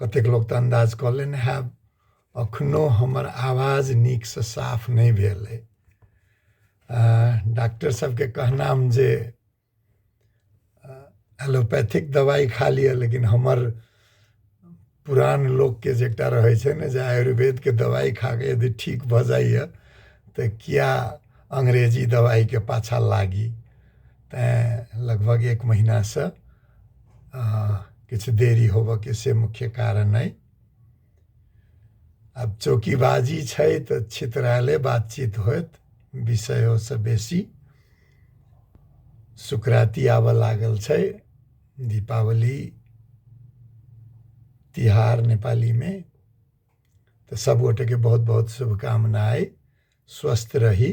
कतेक लोक तऽ अन्दाज कऽ लेने हैब अखनो हमर आवाज नीकसँ साफ नहि भेल अइ डॉक्टर सबके कहनाम जे एलोपैथिक दवाइ खा लिअ लेकिन हमर पुरान लोकके जे एकटा रहै छै ने जे आयुर्वेदके दवाइ खाके यदि ठीक भऽ जाइए तऽ किया अंग्रेजी दवाइके पाछाँ लागी तैँ लगभग एक महिनासँ किछु देरी होबऽके से मुख्य कारण अइ आब चौकीबाजी छै तऽ छितराले बातचीत होयत विषयोसँ बेसी सुकराती आबऽ लागल छै दीपावली तिहार नेपालीमे तऽ सभगोटेके बहुत बहुत शुभकामना अइ स्वस्थ रही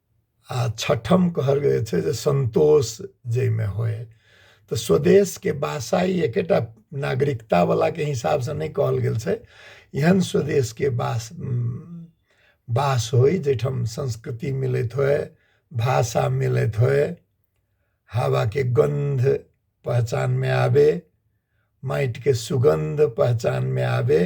आ छठम कहल गेल छै जे संतोष जाहिमे होय तऽ स्वदेशके भाषा ई एकेटा नागरिकतावलाके हिसाबसँ नहि कहल गेल छै एहन स्वदेशके वास वास होय जाहिठाम संस्कृति मिलैत होय भाषा मिलैत होय हवाके गन्ध पहचानमे आबय माटिके सुगन्ध पहचानमे आबय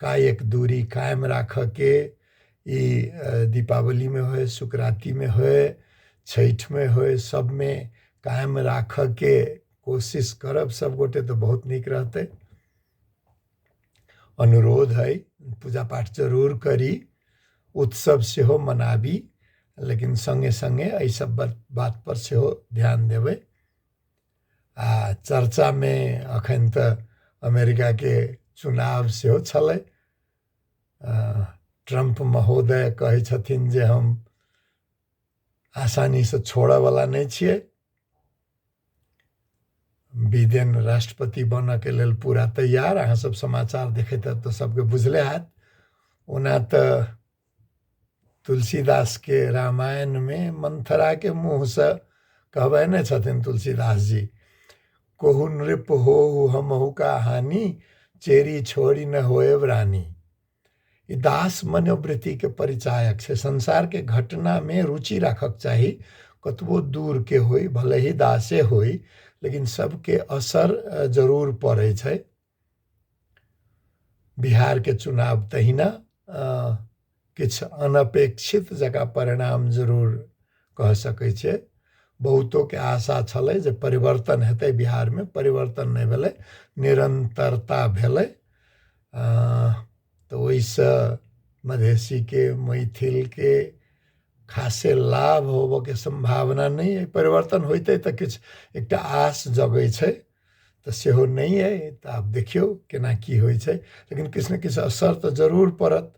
कायक दूरी कायम राखऽके ई दीपावलीमे होइ सुकरातीमे होइ छठिमे होइ सबमे कायम राखऽके कोशिश करब सब गोटे तऽ बहुत नीक रहतै अनुरोध है पूजा पाठ जरूर करी उत्सव सेहो मनाबी लेकिन सङ्गे सङ्गे एहि सब बात पर सेहो ध्यान देबै आ चर्चामे एखन तऽ अमेरिकाके चुनाव सेहो छलै ट्रम्प महोदय कहै छथिन जे हम आसानीसँ छोड़यवला नहि छियै बिदेन राष्ट्रपति बनयके लेल पूरा तैयार अहाँसभ समाचार देखैत हैब तऽ सभके बुझले हैत ओना तऽ तुलसीदास के रामायण में मंथरा के मुँह से कहबे ने छथिन तुलसीदास जी कोहु नृप हो हमहु का हानि चेरी छोड़ी न होए रानी ई दास मनोवृत्ति के परिचायक से संसार के घटना में रुचि रखक चाही कतबो दूर के होई भले ही दासे होई लेकिन सबके असर जरूर पड़े छै बिहारके चुनाव तहिना किछु अनपेक्षित जकाँ परिणाम जरूर कह सकै छै बहुतोके आशा छलै जे परिवर्तन हेतै बिहारमे परिवर्तन नहि भेलै निरन्तरता भेलै तऽ ओहिसँ मधेसीके मैथिलके खासे लाभ होबयके सम्भावना नहि अइ परिवर्तन होइतै तऽ किछु एकटा आश जगै छै तऽ सेहो नहि अइ तऽ आब देखियौ केना की होइ छै लेकिन किछु ने किछु असर तऽ जरूर पड़त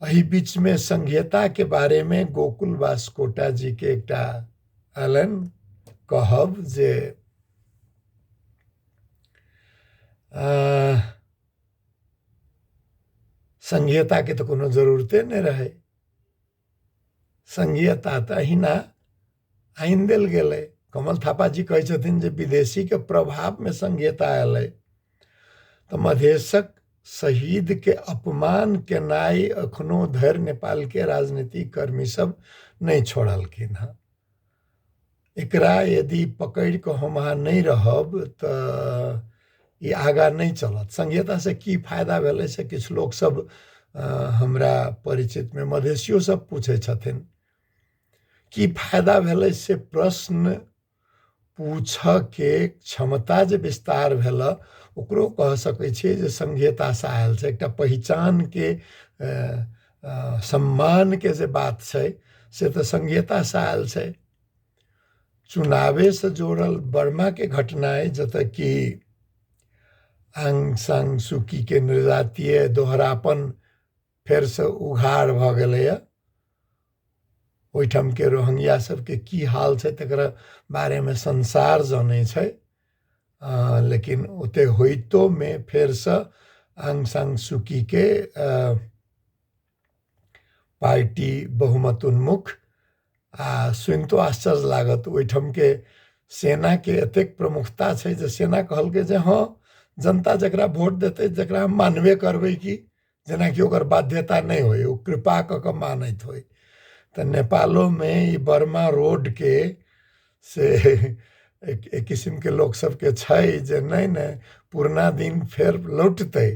एहि बीचमे संघीयताके बारेमे गोकुल वास कोटा जीके एकटा अलन कहब जे संघीयताके तऽ कोनो जरूरते नहि रहै संघीयता तऽ अहिना आनि देल गेलै कमल थापा जी कहै छथिन जे विदेशीके प्रभावमे संघीयता अयलै तऽ मधेशक शहीदके अपमान केनाइ एखनो धरि नेपालके राजनीतिक कर्मी सब नहि छोड़लखिन हँ एकरा यदि पकड़ि कऽ हम अहाँ नहि रहब तऽ ई आगाँ नहि चलत संहितासँ की फायदा भेलै से किछु लोकसभ हमरा परिचितमे मधेशिओसभ पूछै छथिन की फायदा भेलै से प्रश्न पूछयके क्षमता जे विस्तार भेलऽ ओकरो कह सकै छियै जे संहितासँ आयल छै एकटा पहिचानके अ, सम्मान के जे बात छै से तऽ संघीयता से आयल छै चुनावे से जोड़ल वर्मा के घटना है जतऽ कि आंग सांग सुकी के निर्जातीय दोहरापन फेर से उघार भऽ गेलैए ओहिठाम के रोहंगिया सबके की हाल छै तकरा बारेमे संसार जनै छै लेकिन ओते होइतो मे फेर से आंग सांग सुकी के पार्टी बहुमत उन्मुख आ सुनितो आश्चर्य लागत ओहिठाम के सेना के एतेक प्रमुखता छै जे सेना कहलकै जे हँ जनता जकरा वोट देतै जकरा हम मानबे करबै कि जेनाकि ओकर बाध्यता नहि होइ ओ कृपा कऽ कऽ मानैत होइ तऽ नेपालोमे ई बर्मा रोडके से एक एक किसिमके लोकसभके छै जे नहि नहि पुरना दिन फेर लौटतै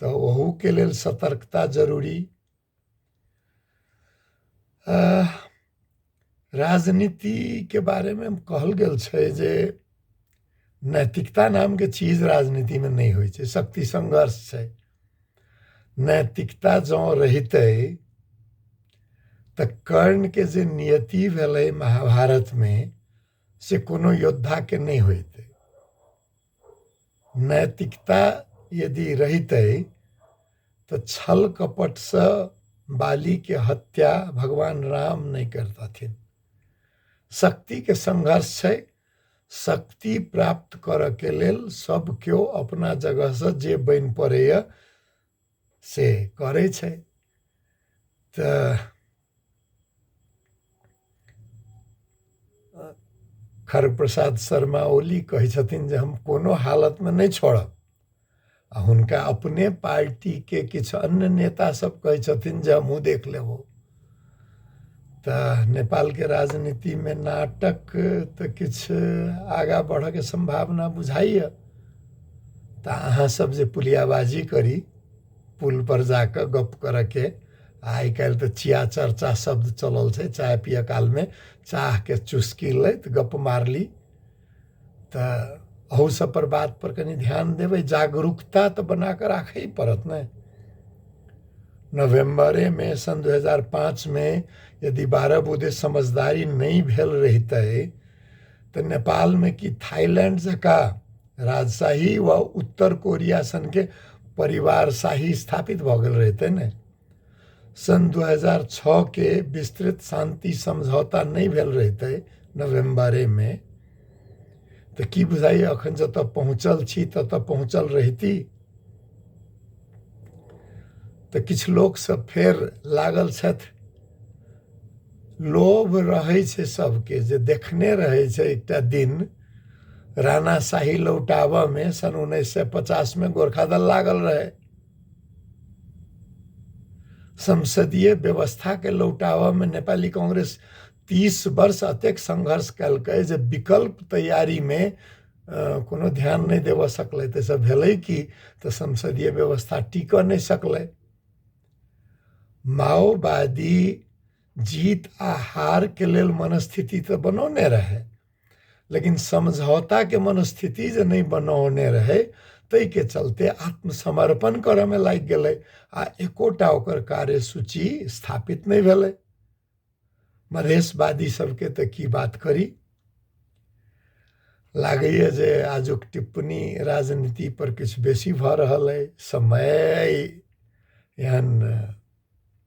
तऽ ओहूके लेल सतर्कता जरूरी राजनीतिके बारेमे कहल गेल छै जे नैतिकता नामके चीज राजनीतिमे नहि होइ छै शक्ति संघर्ष छै नैतिकता जँ रहितै तऽ कर्णके जे नियति भेलै महाभारतमे से कोनो योद्धाके नहि होइतै नैतिकता यदि रहितै तऽ छल कपटसँ बालीके हत्या भगवान राम नहि करतथिन शक्तिके संघर्ष छै शक्ति प्राप्त करऽके लेल सब केओ अपना जगहसँ जे बनि पड़ैए से करै छै तऽ खर प्रसाद शर्मा ओली कहै छथिन जे हम कोनो हालतमे नहि छोड़ब आ हुनका अपने पार्टीके किछु अन्य नेतासभ कहै छथिन जे हमहूँ देख लेबौ तऽ नेपालके राजनीतिमे नाटक तऽ किछु आगाँ बढ़यके सम्भावना बुझाइए तऽ अहाँसभ जे पुलियाबाजी करी पुलपर जा कऽ गप्प करयके आ आइ काल्हि तऽ चिया चर्चा शब्द चलल छै चाय पियऽ कालमे चाहके चुस्की लैत गप्प मारली तऽ अहू सब पर बात पर कनि ध्यान देबै जागरूकता तऽ बना कऽ राखय पड़त ने नवम्बरे मे सन दू हजार पाँच मे यदि बारह बुधे समझदारी नहि भेल रहितै तऽ नेपाल मे कि थाईलैंड जकाँ राजशाही वा उत्तर कोरिया सनके परिवारशाही स्थापित भऽ गेल रहितै ने सन् दू हजार छओके विस्तृत शान्ति समझौता नहि भेल रहितै नवेम्बरेमे तऽ की बुझाइए एखन जतय पहुँचल छी ततय पहुँचल रहिती तऽ किछु लोकसभ फेर लागल छथि लोभ रहै छै सभके जे देखने रहै छै एकटा दिन रानाशाही लौटाबयमे सन् उन्नैस सए पचासमे गोर्खादल लागल रहै संसदीय व्यवस्थाके लौटाबऽमे नेपाली कांग्रेस तीस वर्ष अतेक संघर्ष कयलकै जे विकल्प तैयारीमे अ, कोनो ध्यान नहि देबऽ सकलै ताहिसँ भेलै कि तऽ संसदीय व्यवस्था टिकऽ नहि सकलै माओवादी जीत आ हारके लेल मनस्थिति तऽ बनौने रहै लेकिन समझौताके मनस्थिति जे नहि बनौने रहै ताहिके चलते आत्मसमर्पण करऽमे लागि गेलै आ एकोटा ओकर कार्यसूची स्थापित नहि भेलै मधेशवादी सबके तऽ की बात करी लागैए जे आजुक टिप्पणी राजनीति पर किछु बेसी भऽ रहल अइ समय अइ एहन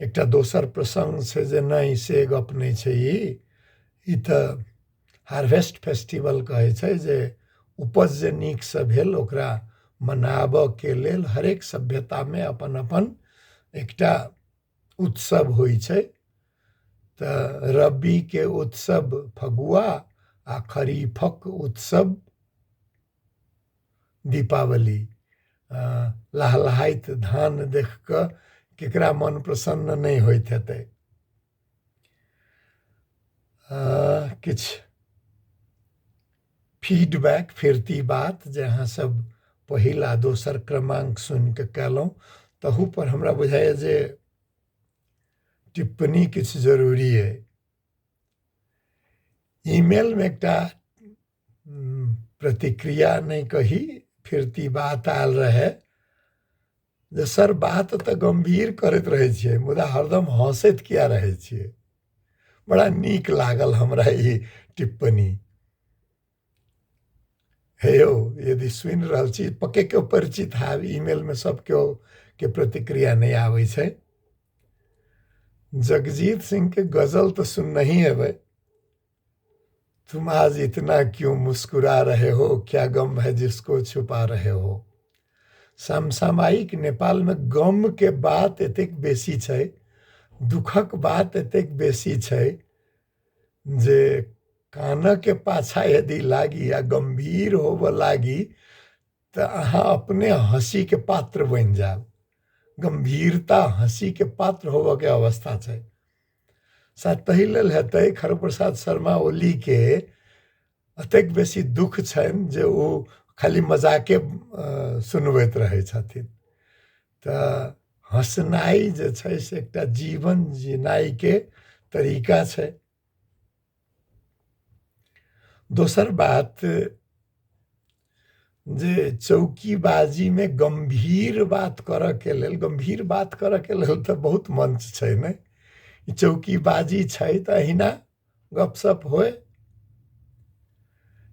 एकटा दोसर प्रसंग छै जे नहि से गप नहि छै ई ई तऽ हार्वेस्ट फेस्टिवल कहै छै जे उपज जे नीकसँ भेल ओकरा मनाबऽके लेल हरेक सभ्यतामे अपन अपन एकटा उत्सव होइ छै तऽ रबीके उत्सव फगुआ आ खरीफक उत्सव दीपावली लहलहाइत धान देख कऽ केकरा मन प्रसन्न नहि होइत हेतै किछु फीडबैक फिरती बात जे अहाँसभ पहिल आ दोसर क्रमाङ्क सुनि कऽ कयलहुँ तहूपर हमरा बुझाइए जे टिप्पणी किछु जरूरी अइ ईमेलमे एकटा प्रतिक्रिया नहि कही फिर ती बात आयल रहै जे सर बात तऽ गम्भीर करैत रहै छियै मुदा हरदम हँसैत किया रहै छियै बड़ा नीक लागल हमरा ई टिप्पणी हे यौ यदि सुनि रहल छी पक्के केओ परिचित हैब ईमेलमे सभ केओ के प्रतिक्रिया नहि आबै छै जगजीत सिंहके गजल तऽ सुननही हेबै तुम आज इतना क्यों मुस्कुरा रहे हो क्या गम है जिसको छुपा रहे हो समसामयिक नेपालमे गमके बात एतेक बेसी छै दुखक बात एतेक बेसी छै जे कानके पाछा यदि लागी या गम्भीर होबऽ लागी तऽ अहाँ अपने हँसीके पात्र बनि जायब गम्भीरता हँसीके पात्र होबऽके अवस्था छै ताहि लेल हेतै खरब प्रसाद शर्मा ओलीके एतेक बेसी दुःख छनि जे ओ खाली मजाके सुनबैत रहै छथिन तऽ हँसनाइ जे छै से एकटा जीवन जिनाइके तरीका छै दोसर बात जे चौकीबाजी मे गम्भीर बात करऽ के लेल गम्भीर बात करऽ के लेल तऽ बहुत मंच छै ने ई चौकीबाजी छै तऽ अहिना गपशप होय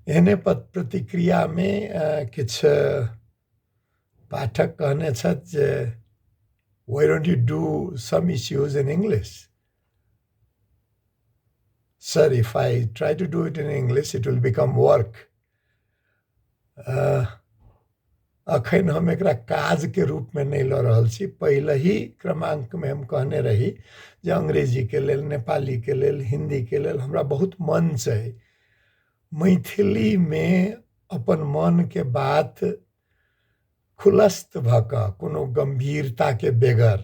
एहने पत- प्रतिक्रिया मे अ, किछु पाठक कहने छथि जे why don't you do some issues in English Sir, if I try to do it in English, it will become work. अखन हम एकरा काज के रूप में नहीं लऽ रहल छी पहले ही क्रमांक में हम कहने रही जे अंग्रेजी के लेल नेपाली के लेल हिंदी के लेल हमरा बहुत मन छै मैथिली में अपन मन के बात खुलस्त भऽ कऽ कोनो गंभीरता के बेगर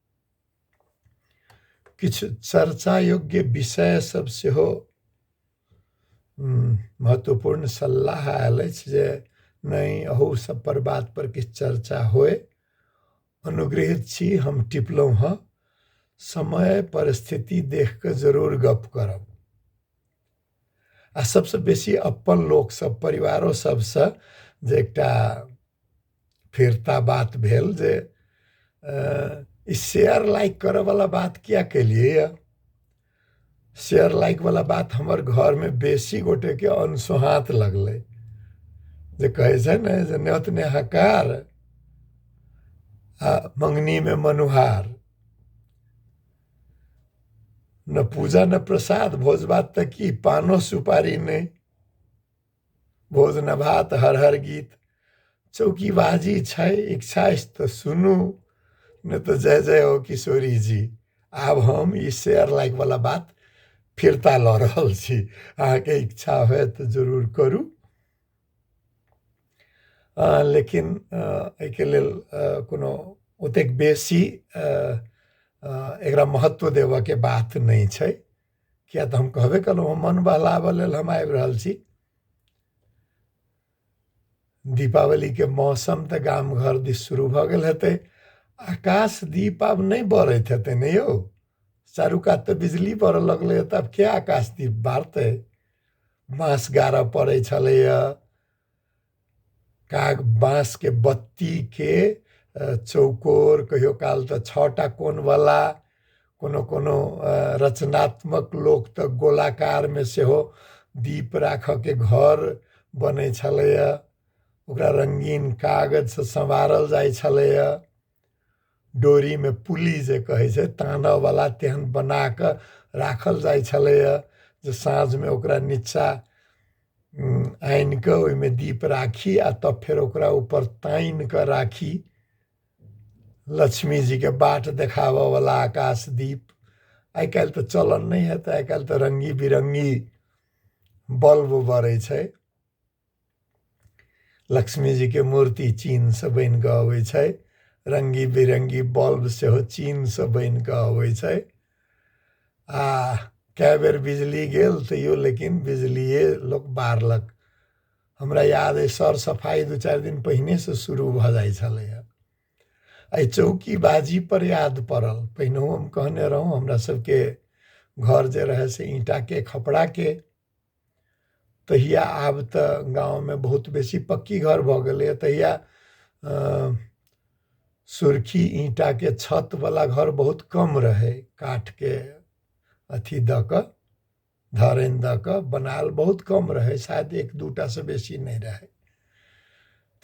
किछु चर्चा योग्य विषय सब सेहो उम, महत्वपूर्ण सलाह आयल अछि जे नहि अहू सब पर बात पर किछु चर्चा होय अनुग्रहित छी हम टिपलहुँ हँ समय परिस्थिति देख कऽ जरूर गप करब आ सबसँ बेसी अपन लोक सब परिवारो सबसँ जे एकटा फिरता बात भेल जे ई शेयर लाइक करऽवला बात किया केलियै यऽ शेयर लाइक वाला बात हमर घरमे बेसी गोटेके अनसोहात लगलै जे कहै छै ने जे न्यौत नेहाकार आ मङ्गनीमे मनुहार न पूजा न प्रसाद भोज भात तऽ की पानो सुपारी नहि भोज न भात हर हर गीत चौकी बाजी छै इच्छा अछि तऽ सुनू नहि तऽ जय जय हो किशोरी जी आब हम ई शेयर लाइक वाला बात फिरता लऽ रहल छी अहाँके इच्छा होय तऽ जरूर करू लेकिन एहिके लेल कोनो ओतेक बेसी एकरा महत्व देबऽके बात नहि छै किए तऽ हम कहबे केलहुँ हँ मन बहलाबऽ लेल हम आबि रहल छी दीपावलीके मौसम तऽ गाम घर दिस शुरू भऽ गेल हेतै आकाश दीप आब नहि बरैत हेतै ने यौ चारू कात तऽ बिजली बरऽ लगलै तऽ आब के आकाश दीप बारतै बाँस गाड़य पड़ैत छलैए काग बाँसके बत्तीके चौकोर कहियो काल तऽ छओ टा कोनवला कोनो कोनो रचनात्मक लोक तऽ गोलाकारमे सेहो दीप राखयके घर बनै छलैए ओकरा रङ्गीन कागजसँ सँवारल जाइ छलैए डोरीमे पुल्ली जे कहै छै तानयवला तेहन बना कऽ राखल जाइ छलैए जे साँझमे ओकरा नीचाँ आनि कऽ ओहिमे दीप राखी आ तब फेर ओकरा ऊपर तानि कऽ राखी लक्ष्मीजीके बाट देखाबयवला आकाश दीप आइ काल्हि तऽ चलन नहि हेतै आइ काल्हि तऽ रङ्गी बिरङ्गी बल्ब बरै छै लक्ष्मी जी के मूर्ति चीन से बन के अबै छै रंगी बिरंगी बल्ब सेहो चीन से बन के अबै छै आ कए बेर बिजली गेल तैयो लेकिन बिजलिए लोक बारलक हमरा याद अइ सर सफाइ दू चारि दिन पहिने से शुरू भऽ जाइ छलैए एहि चौकी बाजी पर याद पड़ल पहिनहु हम कहने रहौं हमरा सबके घर जे रहै से ईंटाके खपड़ाके तहिया आब तऽ गाँवमे बहुत बेसी पक्की घर भऽ गेलैए तहिया सुर्खी ईंटाके छतवला घर बहुत कम रहै काठके अथी दऽ कऽ धरनि दऽ कऽ बनायल बहुत कम रहै शायद एक दू टासँ बेसी नहि रहै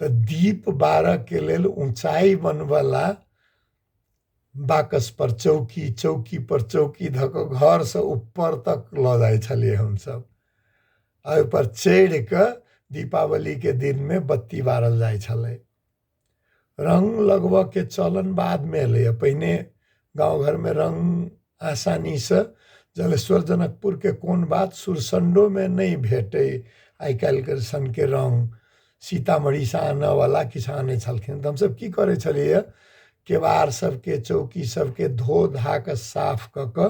तऽ दीप बारयके लेल ऊँचाइ बनबयवला बाकस पर चौकी चौकी पर चौकी धऽ कऽ घरसँ ऊपर तक लऽ जाइ छलियै हमसभ आ ओहिपर चढ़ि कऽ दीपावलीके दिनमे बत्ती बारल जाइ छलै रङ्ग लगबयके चलन बादमे एलैए पहिने गाँव घरमे रङ्ग आसानीसँ जलेश्वर जनकपुरके कोन बात सुरसण्डोमे नहि भेटै आइ काल्हिके सनके रङ्ग सीतामढ़ीसँ आनऽवला किछु आनै छलखिन तऽ हमसभ कि करै छलिए केबाड़ सबके चौकी सबके धो धाकऽ साफ कऽ कऽ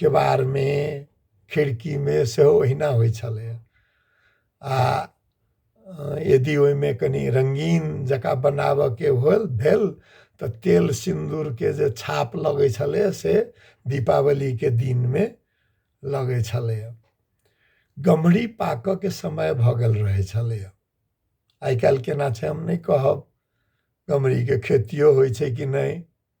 केबाड़मे खिड़कीमे सेहो ओहिना होइ छलैए आ यदि ओहिमे कनि रङ्गीन जकाँ बनाबयके होल भेल तऽ तेल सिन्दूरके जे छाप लगै छलैए से दीपावलीके दिनमे लगै छलैए गम्हरी पाकयके समय भऽ गेल रहै छलैए आइ काल्हि केना छै हम नहि कहब गम्हरीके खेतिओ होइ छै कि नहि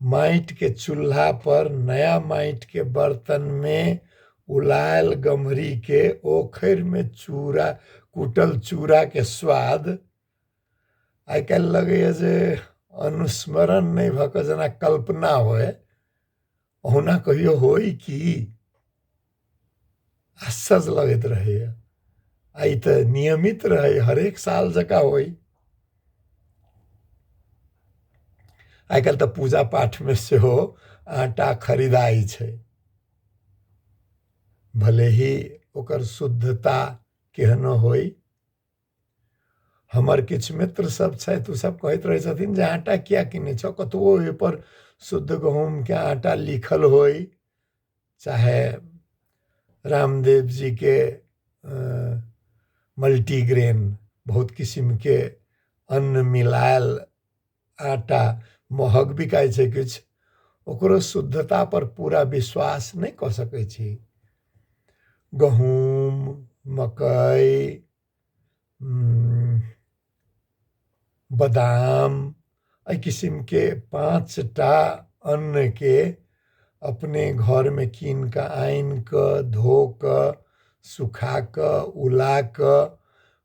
माटि के चूल्हा पर नया माटि के बर्तन में उलायल गम्हरी के ओखरि में चूड़ा कूटल चूड़ा के स्वाद आइ काल्हि लगैए जे अनुस्मरण नहि भऽ कऽ जेना कल्पना होय ओहुना कहियो होई कि आश्चर्य लगैत रहैए आ ई तऽ नियमित रहै हरेक साल जकाँ होई आइ काल्हि तऽ पूजा पाठमे सेहो आटा खरीदाइ छै भले ही ओकर शुद्धता केहनो होई हमर किछु मित्र सब छथि ओ सब कहैत रहै छथिन जे आटा किया किनै छौ कतबो ओहिपर शुद्ध गहूँमके आटा लिखल होइ चाहे रामदेव जीके मल्टीग्रेन बहुत किसिमके अन्न मिलायल आटा महग बिकाइ छै किछु ओकरो शुद्धतापर पूरा विश्वास नहि कऽ सकै छी गहूम मकइ बादाम एहि किसिमके पाँच टा अन्नके अपने घरमे कीन कऽ आनि कऽ धो कऽ सुखा कऽ उला कऽ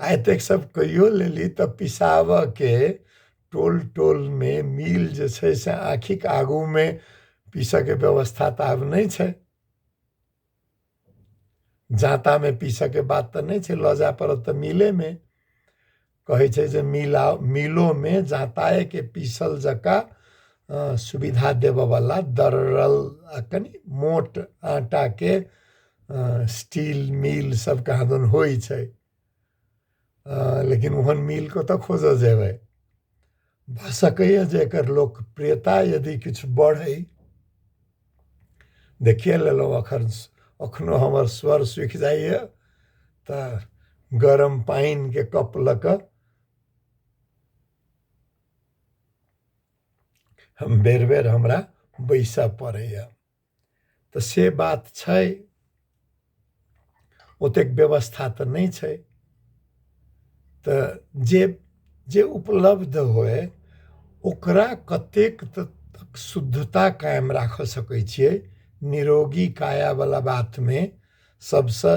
आ एतेक सब कहियो लेली तऽ पिसाबऽ के टोल टोल मे मिल जे छै से आँखिक आगू मे पीसऽ के व्यवस्था तऽ आब नहि छै जाँता मे पीसऽ के बात तऽ नहि छै लऽ जाय पड़त तऽ मिले मे कहै छै जे मिला मिलो मे जाँताए के पीसल जकाँ अ, सुविधा देबऽ वाला दरड़ल आ कनि मोट आटा के स्टील मिल सब कहा दन होइ छै लेकिन ओहन मिल कतऽ खोजऽ जेबै भऽ सकैए जे एकर लोकप्रियता यदि किछु बढ़ै देखिए लेलहुँ एखन एखनो हमर स्वर सुखि जाइए तऽ गरम पानिके कप लऽ कऽ हम बेर बेर हमरा बैसऽ पड़ैए तऽ से बात छै ओतेक व्यवस्था तऽ नहि छै तऽ जे जे उपलब्ध होय ओकरा कतेक तक शुद्धता कायम राखऽ सकैत छियै निरोगी काया बला बातमे सभसँ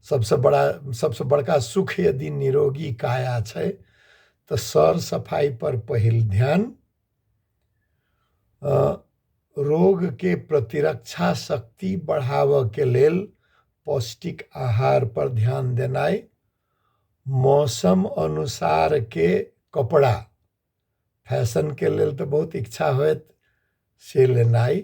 सभसँ बड़ा सभसँ बड़का सुख यदि निरोगी काया छै तऽ सर सफाइ पर पहिल ध्यान रोग के प्रतिरक्षा शक्ति बढ़ावय के लेल पौष्टिक आहार पर ध्यान देनाय, मौसम अनुसार के कपड़ा, फैशन के लेल ते बहुत इच्छा होएत से लेनाय,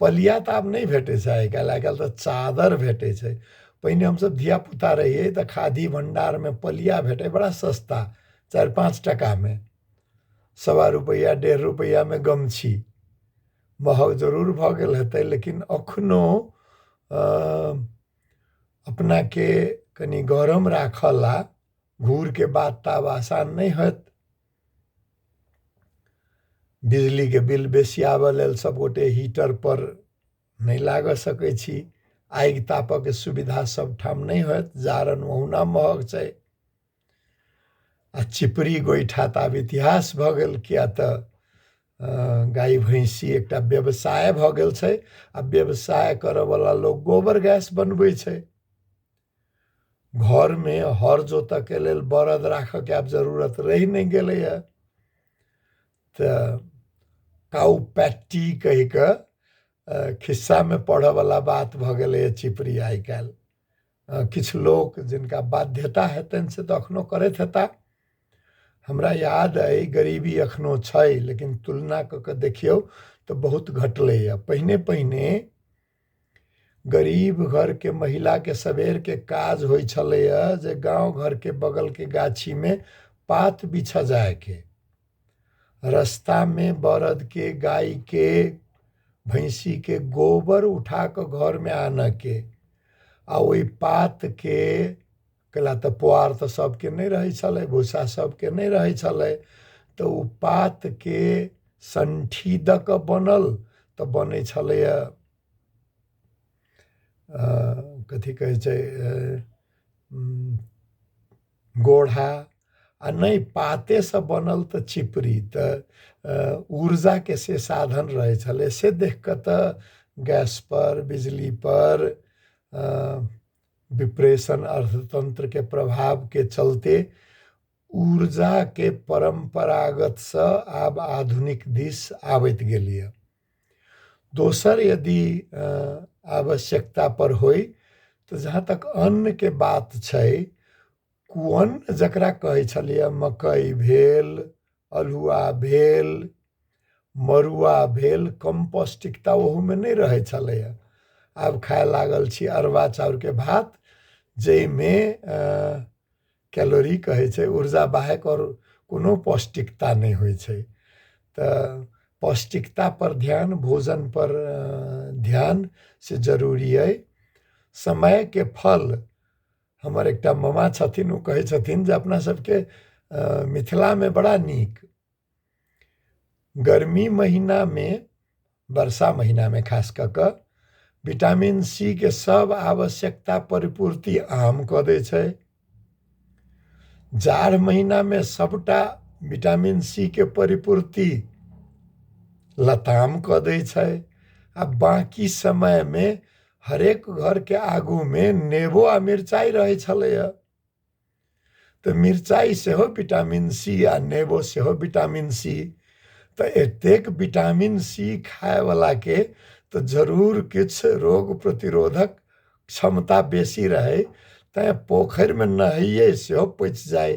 पलिया तऽ आब नहि भेटै छै आइ काल्हि आइ काल्हि तऽ चादर भेटै छै पहिने हमसब धिया पूता रहियै तऽ खादी भण्डार मे पलिया भेटै बड़ा सस्ता चारि पाँच टका मे सवा रुपैआ डेढ़ रुपैआ मे गमछी महग जरूर भऽ गेल हेतै लेकिन अखनो अपना के कनी गरम राखऽ लए घूर के बात तऽ आब आसान नहि होयत बिजलीके बिल बेसी आबय लेल सभगोटे हीटरपर नहि लागय सकै छी आगि तापयके सुविधा सभठाम नहि होयत जारनि ओहुना महग छै आ चिपड़ी गोइठा तऽ आब इतिहास भऽ गेल किया तऽ गाय भैंसी एकटा व्यवसाय भऽ गेल छै आ व्यवसाय करयवला लोक गोबर गैस बनबै छै घरमे हर जोतयके लेल बड़द राखयके आब जरूरत रहि नहि गेलैए तऽ काउ पैट्टी कहि कऽ खिस्सामे पढ़यवला बात भऽ गेलैए चिपरी आइ काल्हि किछु लोक जिनका बाध्यता हेतनि से तऽ एखनहु करैत हेता हमरा याद अइ गरीबी एखनहु छै लेकिन तुलना कऽ कऽ देखियौ तऽ बहुत घटलैए पहिने पहिने गरीब घरके महिलाके सबेरके काज होइ छलैए जे गाँव घरके बगलके गाछीमे पात बिछ जायके रस्तामे बरदके गायके भैंसीके गोबर उठा कऽ घरमे आनयके आ ओहि पातके कैला तऽ पोआर तऽ सभके नहि रहै छलै भूसा सभके नहि रहै छलै तऽ ओ पातके संठी दऽ कऽ बनल तऽ बनै छलैए कथी कहै छै गोढ़ा आ नहि पातेसँ बनल तऽ चिपरी तऽ ऊर्जाके से साधन रहै छलै से देख कऽ तऽ गैसपर बिजलीपर डिप्रेशन अर्थतंत्र के प्रभाव के चलते ऊर्जा के परंपरागत से आब आधुनिक दिस आवत गेलिए दोसर यदि आवश्यकता पर हो तो जहाँ तक अन्न के बात छै कुअन्न जकरा कहै छलियै मकई भेल अल्हुआ भेल मड़ुआ भेल कम पौष्टिकता ओहूमे नहि रहै छलैए आब खाए लागल छी अरबा चाउरके भात जाहिमे कैलोरी कहै छै ऊर्जा बाहेक आओर कोनो पौष्टिकता नहि होइ छै तऽ पौष्टिकतापर ध्यान भोजनपर ध्यान से जरूरी अइ समयके फल हमर एकटा मामा छथिन ओ कहै छथिन जे अपना सबके मिथिलामे बड़ा नीक गर्मी महिनामे वर्षा महिनामे खास कऽ कऽ विटामिन सी के सब आवश्यकता परिपूर्ति आम कऽ दै छै जाड़ महिनामे सबटा विटामिन सी के परिपूर्ति लताम कऽ दै छै आ बाँकी समयमे हरेक घरके आगूमे नेबो आ मिरचाइ रहै छलैए तऽ मिरचाइ सेहो विटामिन सी आ नेबो सेहो विटामिन सी तऽ एतेक विटामिन सी खायवलाके तऽ जरूर किछु रोग प्रतिरोधक क्षमता बेसी रहय तैँ पोखरिमे नहैयै सेहो पचि जाय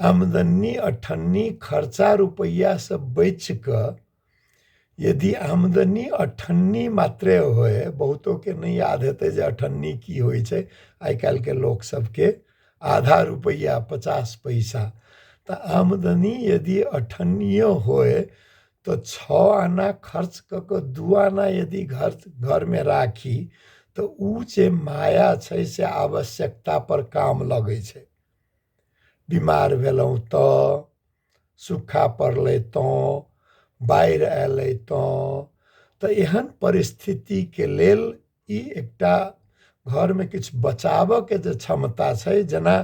आमदनी अठन्नी खर्चा रुपैआ से बचि कऽ यदि आमदनी अठन्नी मात्रे होइ बहुतोके नहि याद हेतै जे अठन्नी की होइ छै आइ काल्हिके लोक सभके आधा रुपैआ पचास पैसा तऽ आमदनी यदि अठन्नियो होइ तऽ छओ आना खर्च कऽ कऽ दू आना यदि घर घरमे राखी तऽ ओ जे माया छै से आवश्यकता पर काम लगै छै बिमार भेलहुँ तऽ सुक्खा पड़लै तऽ बाढ़ि अयलै तऽ तऽ एहन परिस्थितिके लेल ई एकटा घरमे किछु बचाबऽके जे क्षमता छै जेना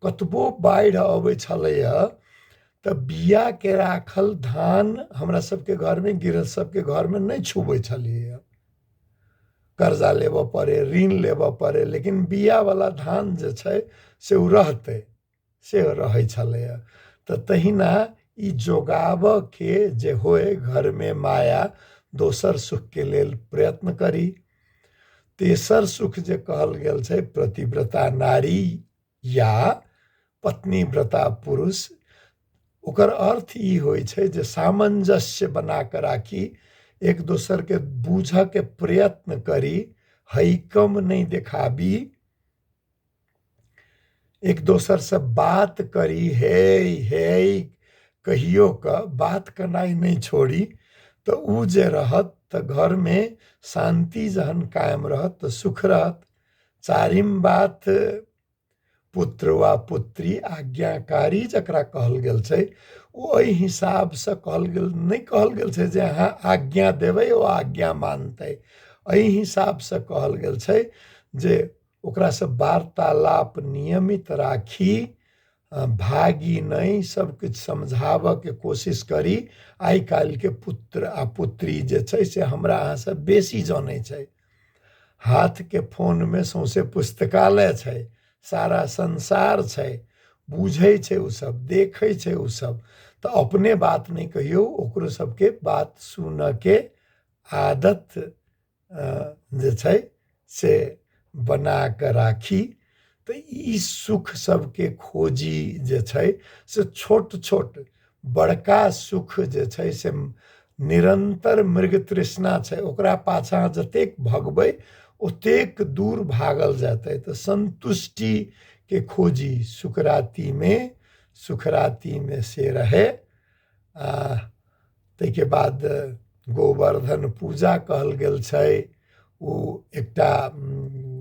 कतबो बाढ़ि अबै छलैया तऽ बियाके राखल धान हमरा सबके घरमे गृहस्थ सबके घरमे नहि छुबै छलियै कर्जा लेबऽ पड़ै ऋण लेबऽ पड़ै लेकिन बिआवला धान जे छै से ओ रहतै से रहै छलैए तऽ तहिना ई जोगाबऽके जे होइ घरमे माया दोसर सुखके लेल प्रयत्न करी तेसर सुख जे कहल गेल छै प्रतिव्रता नारी या पत्नी व्रता पुरुष ओकर अर्थ ई होइ छै जे सामंजस्य बना कऽ राखी एक दोसरके बूझयके प्रयत्न करी हैकम नहि देखाबी एक दोसरसँ बात करी हे हे कहियो कऽ बात केनाइ नहि छोड़ी तऽ ओ जे रहत तऽ घरमे शान्ति जहन कायम रहत तऽ सुख रहत चारिम बात पुत्र वा पुत्री आज्ञाकारी जकरा कहल गेल छै ओ एहि हिसाबसँ कहल गेल नहि कहल गेल छै जे अहाँ आज्ञा देबै ओ आज्ञा मानतै एहि हिसाबसँ कहल गेल छै जे ओकरासँ वार्तालाप नियमित राखी भागी नहि सब किछु समझाबऽ के कोशिश करी आइ काल्हि के पुत्र आ पुत्री जे छै से हमरा अहाँ से बेसी जानै छै हाथ के फोन मे सौंसे पुस्तकालय छै सारा संसार छै बुझै छै ओ सब देखै छै ओ सब तऽ अपने बात नहि कहियौ ओकरो सबके बात सुनऽ के आदत जे छै से बना कऽ राखी तऽ ई सुख सबके खोजी जे छै से छोट छोट बड़का सुख जे छै से निरन्तर मृग तृष्णा छै ओकरा पाछाँ जतेक भगबै ओतेक दूर भागल जेतै तऽ सन्तुष्टिके खोजी सुकरातीमे सुखरातीमे से रहै आ ताहिके बाद गोवर्धन पूजा कहल गेल छै ओ एकटा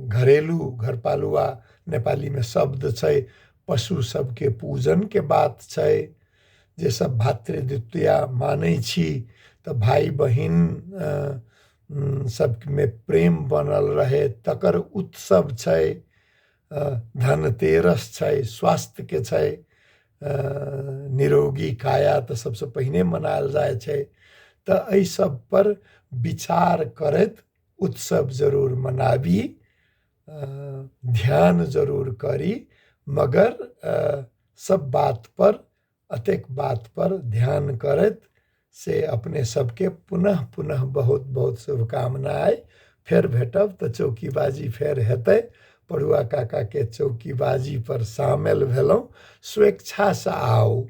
घरेलू घरपालुआ नेपालीमे शब्द छै पशु सभके पूजनके बात छै जे सभ भातृद्वितीया मानै छी तऽ भाय बहिन सभमे प्रेम बनल रहै तकर उत्सव छै धन तेरस छै स्वास्थ्यके छै निरोगी काया तऽ सभसँ पहिने मनायल जाइ छै तऽ एहि सभ पर विचार करैत उत्सव जरूर मनाबी ध्यान जरूर करी मगर सभ बात पर अतेक बात पर ध्यान करैत से अपने सबके पुनः पुनः बहुत बहुत शुभकामना अइ फेर भेटब तऽ चौकीबाजी फेर हेतै पढ़ुआ काकाके चौकीबाजी पर सामेल भेलहुँ स्वेच्छासँ आउ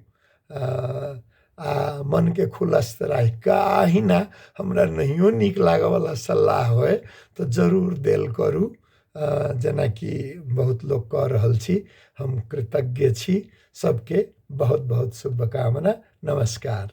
आ मनके खुलस्त राखि कऽ अहिना हमरा नहियो नीक लागयवला सलाह होय तऽ जरूर देल करू जेनाकि बहुत लोक कऽ रहल छी हम कृतज्ञ छी सबके बहुत बहुत शुभकामना नमस्कार